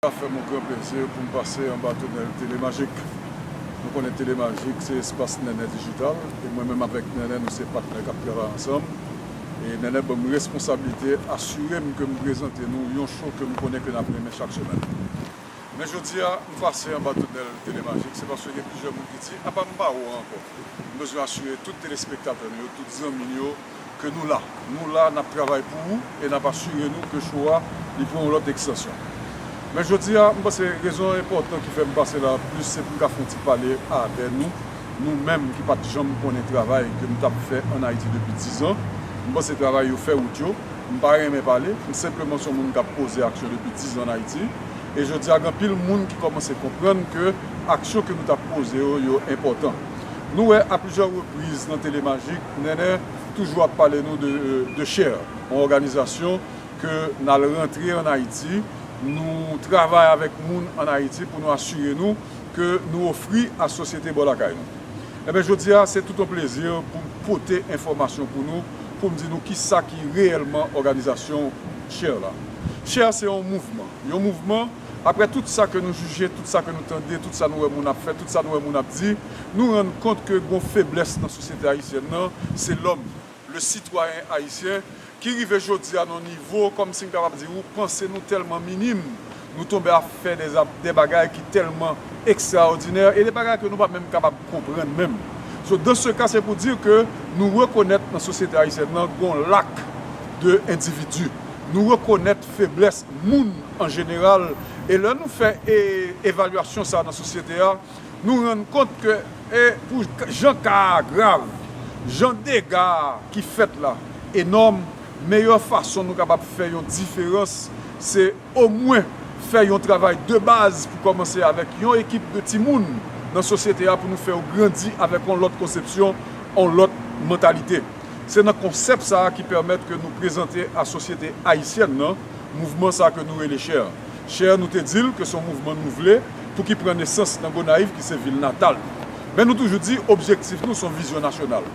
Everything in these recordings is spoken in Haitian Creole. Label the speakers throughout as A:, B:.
A: Sa fè m yon gran plezi pou m pase anba tonèl Telemajik. Nou konnen Telemajik se espas Nènè Dijital e mwen menm avèk Nènè nou se patnè k ap travay ansanm e Nènè ban m responsablite asire m ke m prezante nou yon show ke m konnen ke n ap renmen chak semèn. Men jodi a, m pase anba tonèl Telemajik se paske gen plizyè moun ki di apa m pa ou a ankò. M bezwen asire tout telespektatè nou yo, tout zanmi nou yo, Ke nou la. Nou la, n ap travay pou ou e n ap asire nou ke show a li pran yon lòt ekstansyon. Men jodi a, m panse rezon enpòtan ki fè m pase la plis se pou m ka fè yon ti pale avè nou, nou menm ki pa t janm konnen travay ke m t ap fè ann Ayiti depi dizan. M panse travay yo fè wout yo. M pa renmen pale. M senpleman s on moun k ap poze aksyon depi dizan ann Ayiti. E jodi a, gen anpil moun ki kòmanse konprann ke aksyon ke nou t ap poze yo, yo enpòtan. Nou wè a plizyè repriz nan Tele Majik, Nènè toujou ap pale nou de Cher, yon òganizasyon ke n al rantre an Ayiti, nou travay avèk moun an Ayiti pou nou asire nou ke nou ofri a sosyete bò lakay nou. Enben jodi a se tout yon plezi pou m pote enfòmasyon pou nou, pou m di nou ki sa ki reyèlman òganizasyon Cher la. Cher se yon mouvman, yon mouvman. Aprè tout sa ke nou jije, tout sa ke nou tande, tout sa nou wè moun ap fè, tout sa nou wè moun ap di, nou rann kont ke gon feblès nan sosyete ayisyèn nan, se lòm, le citoyen haïtien, ki rive jodi a nan yon nivo, kòm si m kapab di ou, panse nou tèlman minim, nou tonbe ap fè dè bagay ki tèlman ekstraòdinè, e de bagay ke nou pa menm kapab konprann menm. So, dans ce cas, c'est pour dire que nou rekonèt nan sosyete ayisyèn nan gon lak de endividi, nou rekonèt feblès moun An jeneral, e lè nou fè e evalyasyon sa a nan sosyete a, nou rann kont ke e pou jan ka a grav, jan dega a ki fèt la enòm, meyè fason nou kapab fè yon diferans se omwen fè yon travay de baz pou kòmanse avèk yon ekip de timoun nan sosyete a pou nou fè yo grandi avèk yon lòt konsepsyon, yon lòt mantalite. Se nan konsèp sa a ki pèmèt ke nou prezante a sosyete ayisyèn nan. Mouvman sa ke nou rele Cher Cher nou te dil ke son mouvman nou vle pou ki pran nesans nan Gonayiv ki se vil natal nou. Men nou toujou di objektif nou son vizyon nasyonal.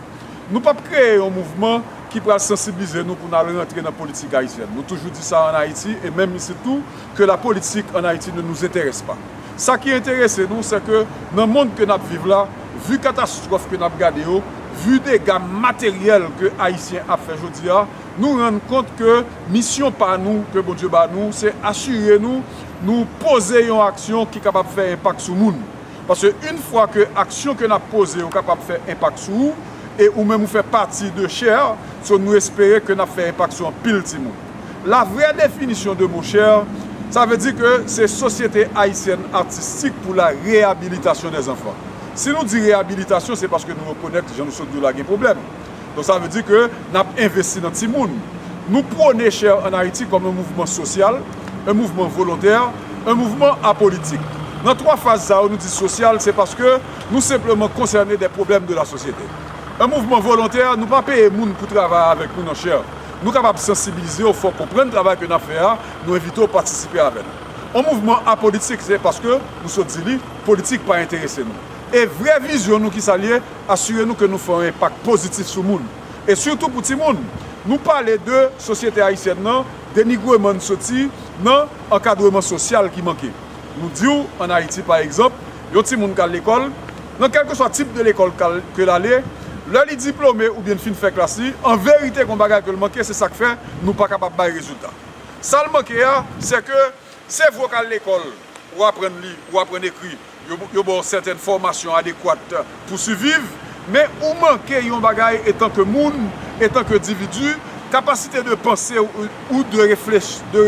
A: Nou pap kreye yon mouvman ki pral sansiblize nou pou nal rantre nan politik ayisyèn. Nou toujou di sa an Ayiti e menm isit tou ke la politik an Ayiti ne nous interesse pas. Sa ki enterese nou se ke nan mond ke nap viv la, vu katastrof ke nap gade yo, vu dega materyèl ke ayisyen ap fè jodi a, nou rann kont ke misyon pa nou ke Bondye ba nou se asire nou nou poze yon aksyon ki kapab fè enpak sou moun. Paske yn fwa ke aksyon ke nap poze yo kapab fè enpak sou ou e ou menm ou fè pati de chair so nou espere ke nap fè enpak sou anpil timoun. La vrè definisyon de mo chair sa vle di ke se Sosyete Ayisyèn Atistik pou la Reyabilitasyon dè Zanfan. Si nou di reyabilitasyon se paske nou rekonèt jan nou sot di w la gen pwoblèm. Donk sa vle di ke n ap envesti nan timoun. Nou pwone Share en Haïti kòm yon mouvman sosyal, yon mouvman volontè, yon mouvman apolitik. Nan twa faz sa yo nou di sosyal se paske nou senpleman konsène de pwoblèm de lasosyete. Yon mouvman volontè, nou pa peye moun pou travay avèk nou nan Share. Nou kapab sansibilize w, fè w konprann travay ke n ap fè a, nou envite w patisipe avè nou. Yon mouvman apolitik se paske, nou sot di li, politik pa enterese nou. E vrè vizyon nou kisa l ye? Asire nou ke nou fè yon enpak pozitif sou moun, e sitou pou timoun. Nou pale de sosyete ayisyèn nan, denigreman n soti nan ankadreman sosyal ki manke. Nou di w an Ayiti pa egzanp, yon timoun k al lekòl, nan kèlkeswa tip de lekòl ke l ale, lè li diplome oubyen li fin fè klas li, an verite gon bagay ke l manke, se sa k fè nou pa kapab bay rezilta. Sa l manke a, sèke se vre w k al lekòl, ou aprann li, ou aprann ekri, Yo ba w sèten fòmasyon adekwat pou siviv, men ou manke yon bagay etanke moun, etanke edividi, kapasite de panse ou, de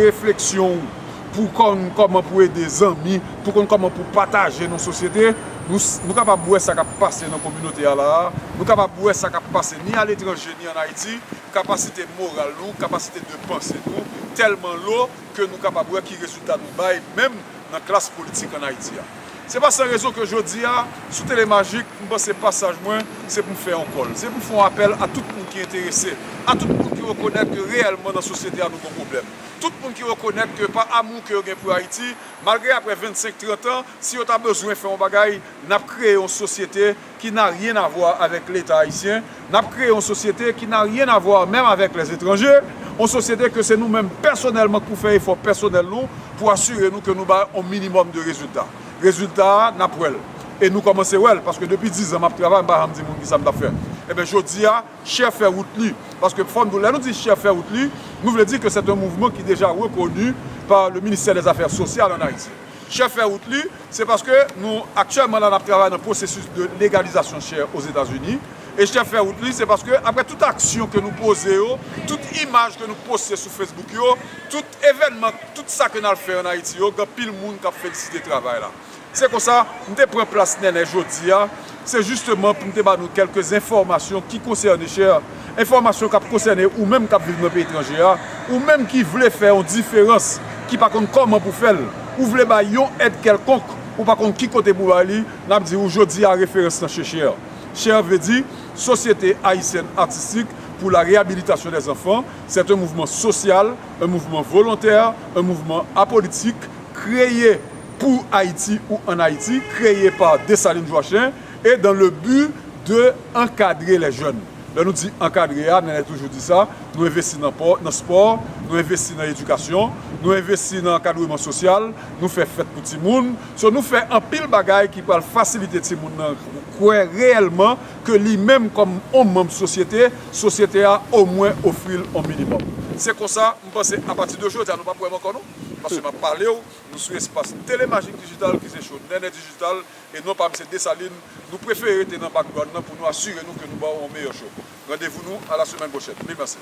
A: refleksyon ou pou w konn kòman pou w ede zanmi, pou w konn kòman pou w pataje nan sosyete. Nou kapab wè sa k ap pase nan kominote a la a, nou kapab wè sa k ap pase ni aletranje ni an Ayiti, kapasite moral nou, kapasite de panse nou tèlman lo, ke nou kapab wè ki rezilta nou bay menm nan klas politik an Ayiti a. Se pa san rezon ke jodi a, sou Tele Magik, m panse pasaj mwen, se pou m fè yon kòl. Se pou m fè yon apèl a tout moun ki enterese, a tout moun ki rekonèt ke reyèlman nan sosyete a nou gen yon pwoblèm. Tout moun ki rekonèt ke pa amou ke yo gen pou Ayiti, malgre apre 25, 30 an, si yo ta bezwen fè yon bagay, n ap kreye yon sosyete, ki n'a rien à voir avec leta ayisyen, n'ap kreye yon sosyete ki n'a rien à voir menm avèk les étrangers, yon sosyete ke se nou menm pèsonèlman k pou fè efò pèsonèl nou pou asire nou ke nou bay yon minimòm de rezilta. Rezilta a, n'ap wè l. E nou kòmanse wè l, paske depi dizan m'ap travay, m pa janm di moun kisa m t'ap fè. Enben jodi a, chè fè wout li. Paske fò n di, lè nou di chè fè wout li, nou vle di ke c'est un mouvement qui déjà reconnu par le Ministère des Affaires Sociales en Haïti. Chè fè wout li, se paske nou aktyèlman la nap travay nan pwosesis de legalizasyon chè Ozetazini, e chè fè wout li se paske aprè tout aksyon ke nou poze yo, tout imaj ke nou poste sou Facebook yo, tout evènman, tout sa ke nal fè an Ayiti yo gen pil moun kap felisite travay la. Se konsa, m te pran plas Nènè jodia Se jisteman pou m te ba nou kèlke enfòmasyon ki konsène chè, enfòmasyon k ap konsène ou menm k ap viv nan peyi etranje a, ou menm ki vle fè yon diferans, ki pa konn kòman pou fè l, ou vle bay yon èd kèlkonk, ou pa konn ki kote pou bay li, n ap di ou jodi a referans lan se chè. Chè vle di, Sosyete Ayisyèn Atistik pou la Reyabilitasyon dè Zanfan, sèt un mouvman sosyal, un mouvman volontè, un mouvman apolitik, kreye, Pour Haïti ou en Haïti, kreye pa Dessalines Joachim e dan le bu de ankadre lè jèn. Lè nou di ankadre a, Nènè toujou di sa, nou envesti nan pò, nan spò, nou envesti nan edikasyon, nou envesti nan ankadreman sosyal, nou fè fèt pou timoun. So nou fè anpil bagay ki pral fasilite timoun nan kwè reyèlman ke li menm kòm on manm sosyete, sosyete a omwen ofri l on minimòm. Se konsa, m panse apati de jodi a nou p ap wè m ankò non. Paske m ap pale w. Nou sou espas Tele Magic Digital ki se show Nènè Digital e non pa Misye Dessalines. Nou prefere rete nan background nan pou nou asire nou ke nou ba w yon meyè show. Randevou nou a la semèn pwochèn. Mil mèsi.